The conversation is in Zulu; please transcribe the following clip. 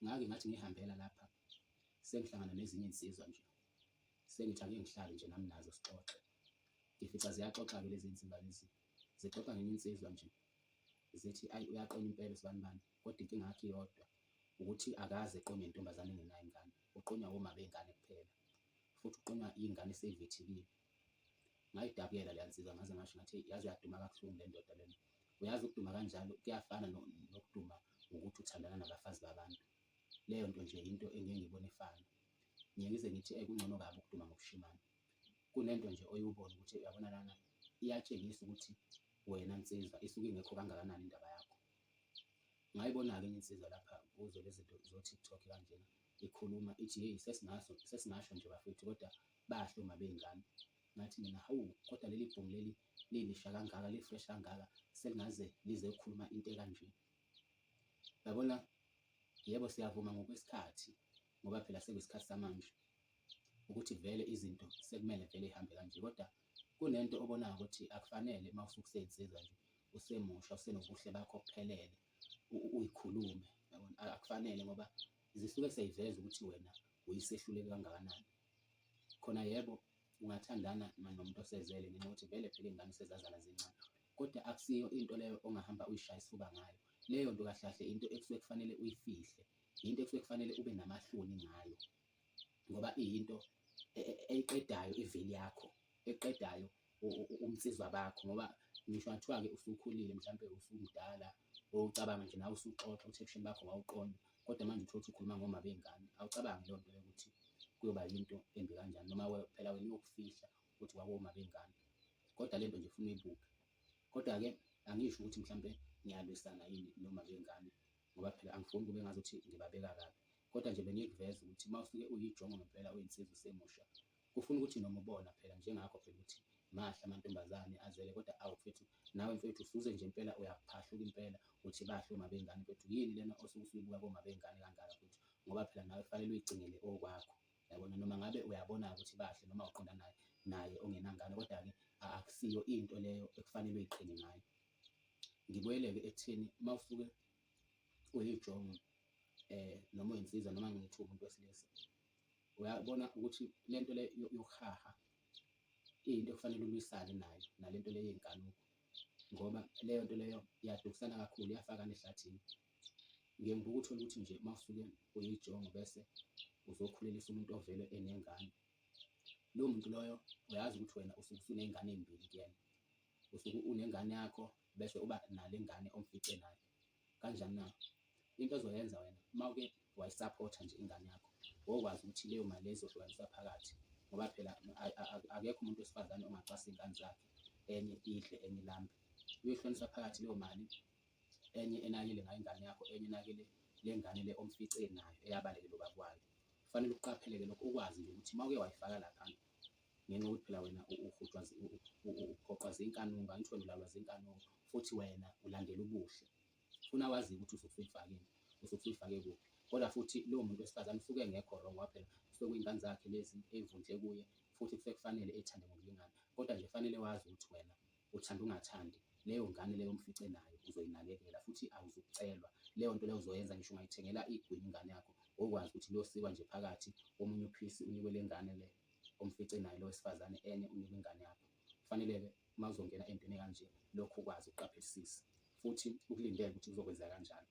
Ngake ngathi ngihambela lapha sengihlangana nezinye insizwa nje sengithi ake ngihlale nje nami nazo sixoxe ngifica ziyaxoxa-ke lezi nsiba lezi zixoxa ngenye insizwa nje zithi ayi uyaqina impela sibanibani kodwa inkinga yakhe iyodwa ukuthi akaze eqonywe intombazane engenayo ingane uqonywa woma bengane kuphela futhi uqonywa iy'ngane esey'vethekile ngayidabukela leya nsizwa ngaze ngasho ngathi yazi uyaduma kabuhlungu le ndoda lena uyazi ukuduma kanjalo kuyafana nokuduma ngokuthi uthandana nabafazi babantu leyo nto nje into engeke ngibone ifana ngiye ngize ngithi ekungcono kabi ukuduma ngokushimana kunento nje oyubona ukuthi uyabona lana iyatshengisa ukuthi wena nsizwa isuke ingekho kangakanani indaba yakho ngayibona-ke enye insizwa lapha kuzo lezi zinto zo-tiktok kanjena ikhuluma ithi yeyi sesingaso sesingasho nje bafethu kodwa Bahle uma beyingane. Ngathi mina hawu kodwa leli bhungu leli lilisha kangaka li-fresh kangaka selingaze lize ukukhuluma into ekanje. Yabona yebo siyavuma ngokwesikhathi ngoba phela sekuyisikhathi samanje ukuthi vele izinto sekumele vele ihambe kanje kodwa kunento obonayo ukuthi akufanele uma usukuseyinsiza nje usemusha usenobuhle bakho kuphelele uyikhulume yabona akufanele ngoba zisuke seyiveza ukuthi wena uyisehluleki kangakanani. Khona yebo ungathandana nomuntu osezele ngenxa yokuthi vele phela iy'ngane usezazana zincane, kodwa akusiyo into leyo ongahamba uyishaya isifuba ngayo. Leyo nto kahle kahle into ekusuke kufanele uyifihle, yinto ekusuke kufanele ube namahloni ngayo ngoba iyinto e, e, eyiqedayo iveli yakho, eqedayo ubunsizwa bakho ngoba ngisho ngathiwa-ke usukhulile mhlawumpe usumdala ucabanga nje nawe usuxoxa uthi ebusheni bakho wawuqonda kodwa manje uthole ukuthi ukhuluma ngoma bey'ngane awucabangi leyo nto leyo ukuthi kuyoba yinto embi kanjani noma phela wena uyokufihla ukuthi wawoma bey'ngane kodwa le nto nje funa uyibuke kodwa-ke angisho ukuthi mhlawumpe ngiyalwisana yini noma bey'ngane ngoba phela angifuni kube ngazuthi ngibabeka kabi kodwa nje bengikuveza ukuthi uma usuke uyijongo ngempela uyinsizwa usemusha Kufuna ukuthi noma ubona phela njengakho phela ukuthi mahle amantombazane azele kodwa awu mfethu nawe mfethu usuze nje impela uyaphahluka impela uthi bahle uma bengane mfethu yini lena osuke usuyibuka koma bengane kangaka futhi ngoba phela nawe fanele uyigcinele okwakho yabona noma ngabe uyabona ukuthi bahle noma uqonda naye naye ongenangane kodwa-ke akusiyo into leyo ekufanele uyiqhine ngayo ngibuyeleke ekutheni uma usuke uyijongo um noma uyinsizwa noma ngithi umuntu wesilisa uyabona ukuthi le nto le yokuhaha iyinto ekufanele ulwisane nayo nale nto le yenkanuko ngoba leyo nto leyo iyadukisana kakhulu iyafakana ehlathini ngeke ngikuthole ukuthi nje uma usuke uyijongo bese uzokhulelisa umuntu ovele enengane lowo muntu loyo uyazi ukuthi wena usuke usuney'ngane ey'mbili kuyena usuke unengane yakho bese uba nale ngane omfice nayo Kanjani na? Into ozoyenza wena uma uke wayisaphotha nje ingane yakho, wokwazi ukuthi leyo mali leyo izohlukaniswa phakathi ngoba phela akekho umuntu wesifazane ongacwasa iy'ngane zakhe enye idle enye ilambe. Uyohlukanisa phakathi leyo mali enye enakele ngayo ingane yakho, enye enakele le ngane le omfice nayo eyabalekela ubaba wayo. Kufanele ukuqaphele-ke lokho ukwazi nje ukuthi uma uke wayifaka lapha ngenxa yokuthi phela wena uhutshwa uphoqwa zinkanunga angisho wena ulalwa zinkanunga futhi wena ulandela ubuhle funa wazi ukuthi usufifakile usufifake kuphi kodwa futhi lowo muntu wesifazane usuke engekho wrong waphela usuke kuyingane zakhe lezi eyivundle kuye futhi kusuke kufanele ethande ngokulingana kodwa nje fanele wazi ukuthi wena uthanda ungathandi leyo ngane leyo mfice nayo uzoyinakekela futhi awuzukucelwa leyo nto leyo uzoyenza ngisho ungayithengela igwini ingane yakho okwazi ukuthi losikwa nje phakathi omunye uphisi unikwe le ngane leyo umfice naye lo wesifazane enye unika ingane yakho kufanele-ke uma uzongena entweni kanje lokhu ukwazi ukuqaphelisisa futhi ukulindele ukuthi kuzokwenza kanjani